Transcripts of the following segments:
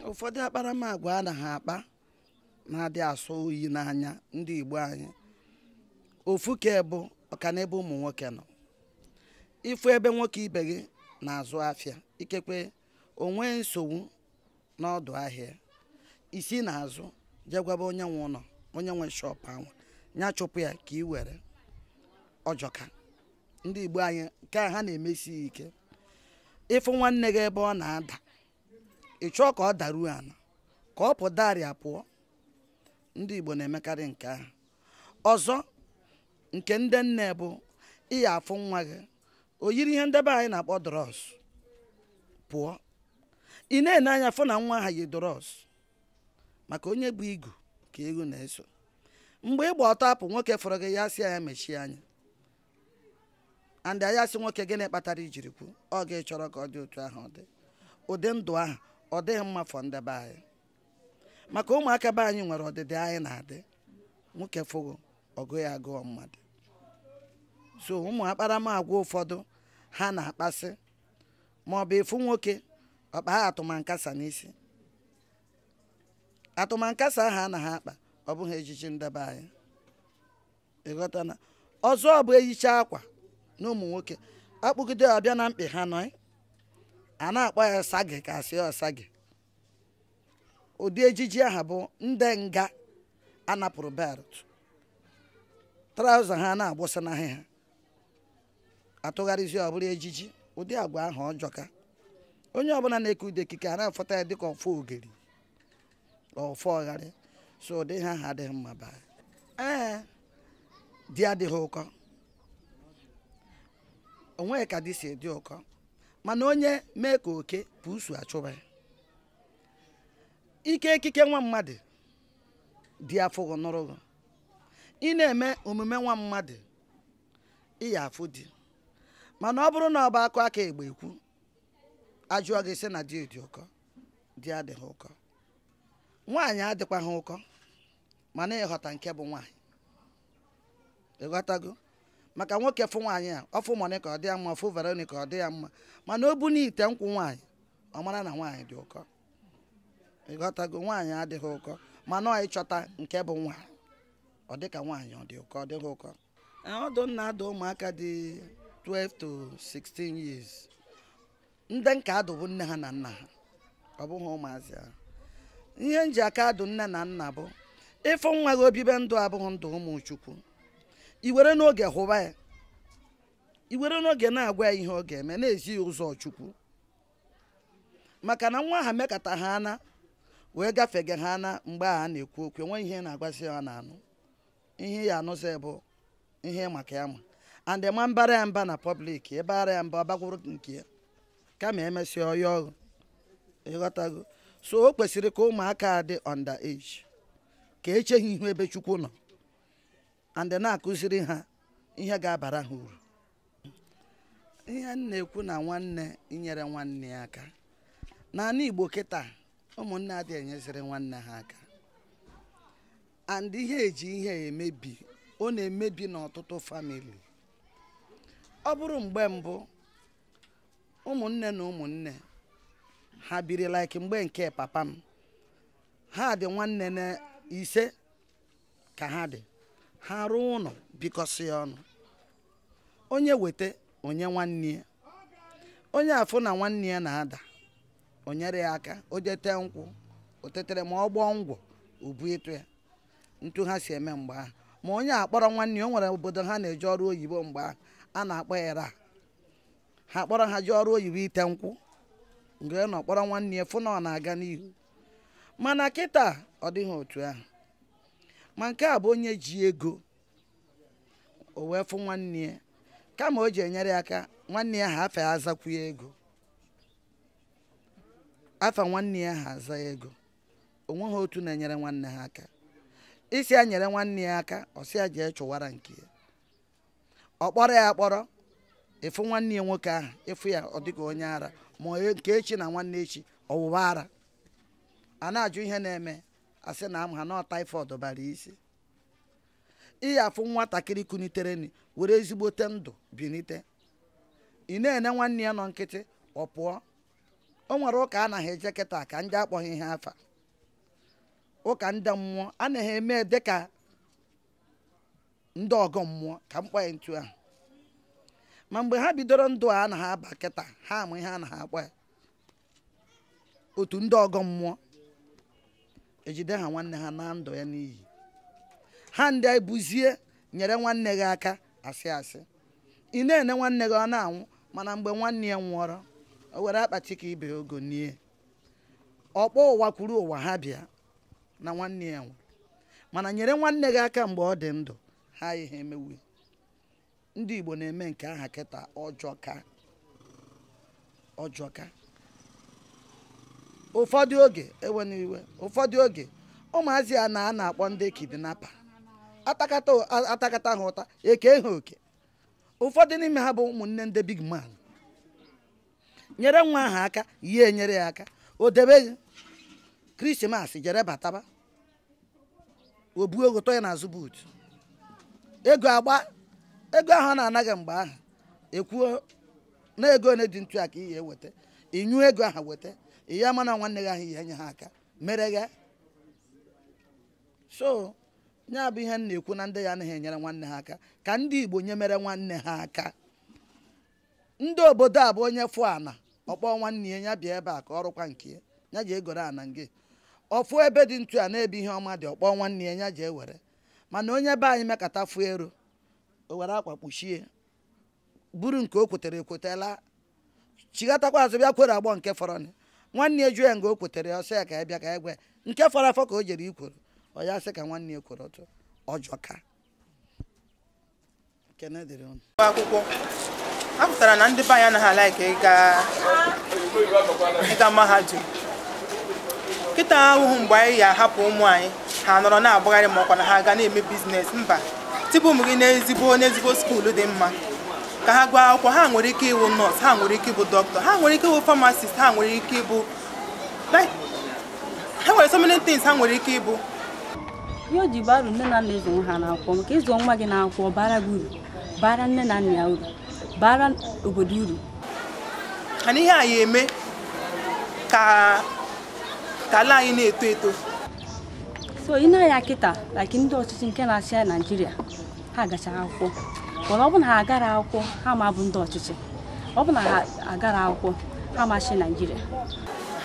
ụfọdụ akparamagwa a na ha akpa na-adị asọ oyi n'anya ndị Igbo anyị ofu nke bụ ọka n'ebe ụmụ nwoke nọ ịfụ ebe nwoke ibe gị na-azụ afịa ikekwe o nwee nsogbu n'ọdụ ahịa i si n'azụ je gwaba onye nwe ụnọ onye nwe shọpụ ahụ ya chụpụ ya ka ị were ọ jọka ndị Igbo anyị nke aha na-emesi ha ike ịfụ nwanne gị ebe ọ na-ada ị chọọ ka ọ daruo ana ka ọ pụdari apụọ ndị Igbo na-emekarị nke ahụ ọzọ nke ndị nne bụ ị ya-afụ nwa gị o yiri ihe ndị be anyị na-akpọ drọs pụọ ị na-ene anya fụ na nwa aha yi drọs maka onye bu igu ka eghu na-eso mgbe ị gba ọtọ apụ nwoke fụrụ gị ị ya-asị ya mechie anya and a ya-asị nwoke gịnị kpatara i jiri kwu ọ gị chọrọ ka ọ dị otu ahụ ọ dị ụdị ndụ ahụ ọ dịghị mma for ndị be anyị maka ụmụaka be anyị nwere ọdịdị anyị na-adị nwoke fụ gị ọ gụ ya agụọ mmadụ so ụmụ akparamagwa ụfọdụ ha na-akpasị ma ọ bụ ị fụ nwoke ọ kpaa atụmankasa n'isi atụmankasa ahụ a na ha akpa ọ bụghị ejiji ndị be anyị ị ghọtana ọzọ bụ eyicha akwa na ụmụ nwoke akpụgide ọ bịa na mkpị ha nọ eh? a na-akpọ ya sagi ka a sị ọ sagi ụdị ejiji aha bụ ndị nga a napụrụ belt traụza ha na-agbụsa n'ahụ ha atụgharịzi ọ bụrụ ejiji ụdị agwa ahụ ọ jọka onye ọbụla na-eke ụdị ekike a na-afụta ya dịka ofogeri ọfọ ọgharị so ụdị ihe aha adịghị mma mba ee di adịghị ụkọ o nweghị ka di si dị ụkọ mana onye mee ka oke buusu achụba ya i kee ekike nwa mmadụ di afụ gị nụrụ gị ị na-eme omume nwa mmadụ ị ya-afụ di mana ọ bụrụ na ọ bụ akụ aka egbe ekwu a jụọ gị ị sị na di dị ụkọ di adịghị ụkọ nwaanyị adịkwaghị ụkọ mana ịhọta nke bụ nwaanyị ị ghọtago maka nwoke fụ nwaanyị a ọ fụ Monica ọ dị ya mma ọ fụ Veronica ọ dị ya mma mana o bunie ite nkwụ nwaanyị ọ mara na nwaanyị dị ụkọ ị ghọtago nwaanyị adịghị ụkọ mana ọ ịchọta nke bụ nwaanyị ọ dịka nwaanyị ọ dị ụkọ ọ dịghị ụkọ ọdụ m na-adụ ụmụaka dị 12 to 16 years ndị m ka adụ bụ nne ha na nna ha ọ bụghị ụmụazị ahụ ihe m ji aka adụ nne na nna bụ ị fụ nwa gị o bibe ndụ abụghị ndụ ụmụ chukwu i were n'oge hụba ya i were n'oge na-agwa ya ihe ọ ga-eme na-ezi ya ụzọ chukwu maka na nwa ha mekata ha ana wee gafege ha ana mgbe a na-ekwu okwu enweghị ihe a na-agwazi ha na-anụ ihe ọ ya-anụzi bụ ihe maka ya mma and ma a baara ya mba na public ị baara ya mba ọ bakwuru nke ya kama e mesịa ọ ya ọghụ ị ghọtago so o kwesịrị ka ụmụaka a dị under age ka e chee ha ihu ebe chukwu nọ and na-akụziri ha ihe ga-abara ha uru ihe m na-ekwu na nwanne inyere nwanne ya aka n'anị Igbo kịta ụmụnne adị enyeziri nwanne ha aka and ihe e ji ihe emebi ọ na-emebi n'ọtụtụ family ọ bụrụ mgbe mbụ ụmụnne na ụmụnne ha biri like mgbe nke papa m ha dị nwanne na ise ka ha dị ha rụọ ụnọ bikọsị ọnụ onye weta onye nwanne ya onye afụ na nwanne ya na-ada o nyere ya aka o je te nkwụ o tetere ma ọ bụ ngwọ o bunyetụ ya ntu ha si eme mgbe ahụ ma onye akpọrọ nwanne ya o nwere obodo ha na-eje ọrụ oyibo mgbe ahụ a na-akpọrọ ha kpọrọ ha je ọrụ oyibo ite nkwụ mgbe nọ kpọrọ nwanne ya fụ na ọ na-aga n'ihu mana kịta ọ dịghị otu ahụ ma nke a bụ onye ji ego o wee fụ nwanne ya kama o ji enyere ya aka nwanne ya ahụ afa ya azakwu ya ego afa nwanne ya ahụ aza ya ego o nweghị otu na-enyere nwanne ha aka ị sị ya nyere nwanne ya aka ọ sị ya jee chụwara nke ya ọ kpọrọ ya akpọrọ ị fụ nwanne ya nwoke ahụ ị fụ ya ọ dịka onye ara ma nke echi na nwanne echi ọ wụwa ara a na-ajụ ihe na-eme a sị na ama ha na typhoid bara isi ị ya-afụ nwatakịrị kuniterenị were ezigbote ndụ binite ị na-ene nwanne ya nọ nkịtị ọ pụọ o nwere ụka ana ha eje kịta ka ndị akpọghị ihe afa ụka ndị mmụọ ana ha eme dịka ndị ọgọ mmụọ ka m kpọ ya ntu ahụ ma mgbe ha bidoro ndụ a ana ha aba kịta ha ama ihe ana ha akpọ ya otu ndị ọgọ mmụọ ejide ha nwanne ha na ndụ ya n'iyi ha ndị ebuzie nyere nwanne gị aka asị asị ị na-ene nwanne gị ọ na-anwụ mana mgbe nwanne ya nwụọrọ o were akpati ka ibe ogo nie ọ kpọọ ụwa kwuru ụwa ha bịa na nwanne ya nwụrụ mana nyere nwanne gị aka mgbe ọ dị ndụ ha ihe emewu ndị Igbo na-eme nke aha kịta ọ jọka ọ jọka ụfọdụ oge ewena iwe ụfọdụ oge ụmụazị a na a na-akpọ ndị kidnapper atakata atakata ha ụta e kee ha oke ụfọdụ n'ime ha bụ ụmụnne ndị big man nyere nwa ahụ aka ya enyere ya aka o debe Christmas jere bataba o buo ọga tọ ya n'azụ boot ego agba ego ahụ a na-ana gị mgbe ahụ ekwuo na ego ole dị ntu a ka ị ya-eweta ị nyụọ ego ahụ weta ị ya-ama na nwanne gị ahụ i nye ha aka mere gha so ya bụ ihe m na-ekwu na ndị ya anaghị enyere nwanne ha aka ka ndị Igbo nye mere nwanne ha aka ndị obodo a bụ onye fụ ana ọ kpọọ nwanne ya ya bịa ebe a ka ọ rụkwa nke ya ya jee goro ana nke ọ fụ ebe dị ntu a na ebe ihe ọma dị ọ kpọọ nwanne ya ya jee were mana onye be anyị mekata fụ ero o were akwa kpuchie buru nke o kwetere ekwete laa chighatakwa azụ bịa kwere agbọ nke fọrọ nwanne ya jụọ ya nga o kwetere ya ọ sị ya ka ya bịa ka ya gwa ya nke fọrọ afọ ka o jere ikwere ọ ya sị ka nwanne ya kwere otu ọ jọka akwụkwọ a kpatara na ndị be anyị anaghị a-like ịga mahadum kịta ahụhụ mgbe anyị ya ahapụ ụmụ anyị ha nọrọ na-agbagharị ma ọkwa na ha ga na-eme business mba tibe ụmụ gị n'ezigbo n'ezigbo school dị mma ka ha gụọ akwụkwọ ha nwere ike ịbụ nurse ha nwere ike ịbụ dọkịta ha nwere ike ịwụ pharmacist ha nwere ike ịbụ ha nwere so many things ha nwere ike ịbụ ihe o ji bara uru nne na nna ịzụ nwa ha n'akwụkwọ maka ịzụ nwa gị n'akwụkwọ bara gị uru bara nne na nna ya uru bara obodo uru mana ihe a ya eme ka ala anyị na-eto eto so i nee anya kịta like ndị ọchịchị nke na-achị naijiria ha gacha akwụkwọ mana ọ bụ na ha agara akwụkwọ ha ma bụ ndị ọchịchị ọ bụ na ha agara akwụkwọ ha ma chị naijiria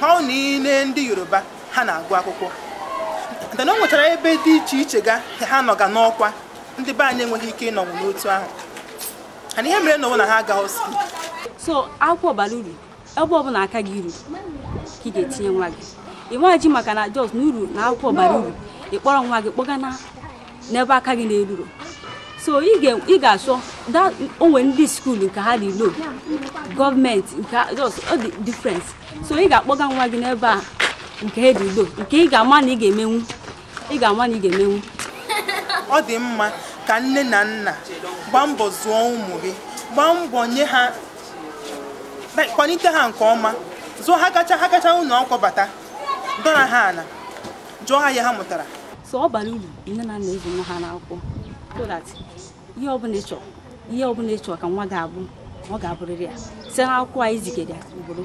ha ọ na i lee ndị yoruba ha na-agụ akwụkwọ taa na o nwetara ebe dị iche iche ga ha nọga n'ọkwa ndị be anyị enweghị ike ịnọnwụ n'otu ahụ ana ihe mere na ọ bụ na ha agaghị school so akwụkwọ bara uru ebe ọbụla aka gị ruru ka ị ga-etinye nwa gị ị nwaji maka na jos na uru na akwụkwọ bara uru ị kpọrọ nwa gị kpọga na n'ebe aka gị na-eruru so ị ga-achọ o nwere ndị school nke ha dị low government nke ọ dị different so ị ga-akpọga nwa gị n'ebe nke ha dị low nke ị ga-ama na ị ga-emenwu ị ga-ama na ị ga-emenwu ọ dị mma ka nne na nna gbaa mbọ zụọ ụmụ gị gbaa mbọ nye ha kwalite ha nke ọma zụọ ha gachaa ha gachaa ụlọ akwụkwọ bata dọra ha ala jụọ ha ihe ha mụtara so ọ bara uru nne na nna ịzụ nwa ha n'akwụkwọ so that ihe ọbụla ị chọrọ ihe ọbụla ị chọrọ ka nwa ga-abụ ọ ga-abụrịrị ya site n'akwụkwọ anyị zigara ya ugboro